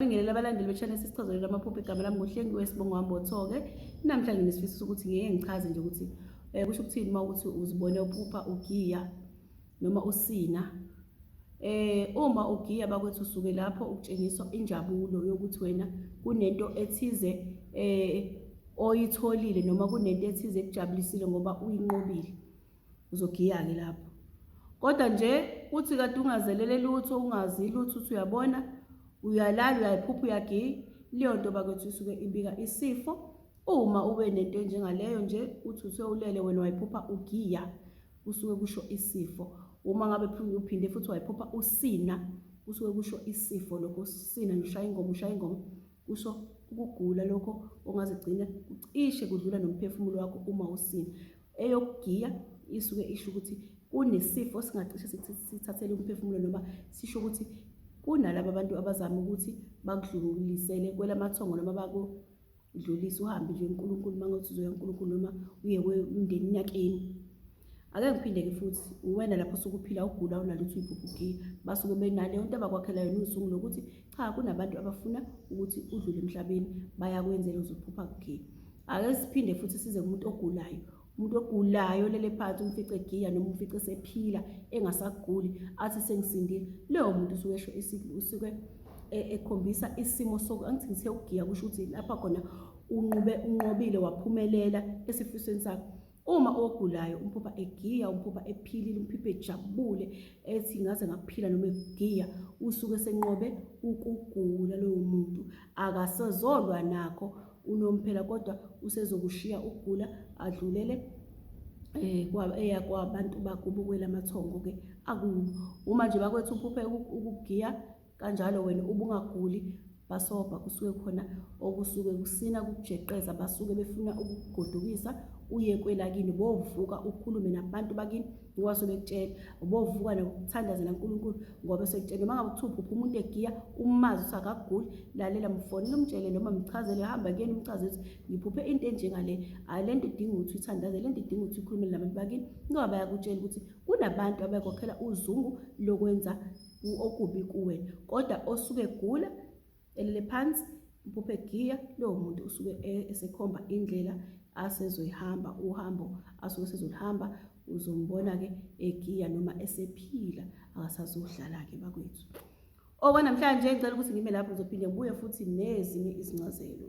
Ngibingelele abalandeli be-channel sesichazelele amaphupho igama lami ngohlengiwe sibongo wami bothoke namhla nginesifiso sokuthi ngeke ngichaze nje ukuthi um kusho ukuthini uma ukuthi uzibone uphupha ugiya noma usina eh uma ugiya bakwethu usuke lapho ukutshengiswa injabulo yokuthi wena kunento ethize eh oyitholile noma kunento ethize ekujabulisile ngoba uyinqobile uzogiya-ke lapho kodwa nje uthi kade ungazelele lutho ungazi lutho uthi uyabona uyalala uyayiphupha uyagiya leyo nto bakwethu isuke ibika isifo uma ube nento enjengaleyo nje uthi uthe ulele wena wayiphupha ugiya kusuke kusho isifo uma ngabe uphinde futhi wayiphupha usina kusuke kusho isifo lokho usina nje ushaya ingoma ushaya ingoma kusho ukugula lokho ongazigcina kucishe kudlula nomphefumulo wakho uma usina eyokugiya isuke isho ukuthi kunesifo singacishe sithathele umphefumulo noma sisho ukuthi kunalabo abantu abazama ukuthi bakudlulisele kwelamathongo noma bakudlulise uhambe nje uNkulunkulu uma ngothi uzoya uNkulunkulu noma uye kwemndeni yakini ake ngiphinde-ke futhi uwena lapho sukuphila ugula unalutho uyibhubhugiya basuke benaleyo nto abakwakhela yona usuku lokuthi cha kunabantu abafuna ukuthi udlule emhlabeni bayakwenzela uzophupha kugiya ake siphinde futhi size kumuntu ogulayo umuntu ogulayo lele phansi umfice giya noma umfice esephila engasaguli athi sengisindile leyo muntu usuke esho usuke e, ekhombisa isimo soku angithi ngithe ugiya kusho ukuthi lapha khona unqube unqobile waphumelela esifisweni sakho Uma ogulayo umphupha egiya, umphupha ephilile, umphupha ejabule ethi ngaze ngaphila noma egiya, usuke senqobe ukugula lowo muntu. Akasezolwa nakho unomphela kodwa usezokushiya ukugula adlulele eh, eya kwabantu bakubo kwelamathongo-ke akuwo. Uma nje bakwethu uphuphe ukugiya kanjalo wena ubungaguli basobha kusuke khona okusuke kusina kukujeqeza basuke befuna ukugodukisa uye kwelakini bovuka ukhulume nabantu bakini ngoba sobekutshela bovuka nokuthandazela uNkulunkulu ngoba sekutshela noma ngakuthupha uphi umuntu egiya umazi ukuthi akaguli lalela mfonele umtshele noma mchazele hamba kuyena umchaze ukuthi ngiphuphe into enjengale hayi le nto idinga ukuthi uyithandaze le nto idinga ukuthi ukhulumele nabantu bakini ngoba bayakutshela ukuthi kunabantu abakhokhela uzungu lokwenza okubi kuwe kodwa osuke gula elele phansi impuphe giya lowo muntu usuke e-, esekhomba indlela asezoyihamba uhambo asuke sezolihamba uzombona-ke egiya noma esephila akasazohlala-ke bakwethu okwanamhlanje ngicela ukuthi ngime lapho ngizophinde ngibuye futhi nezinye izincazelo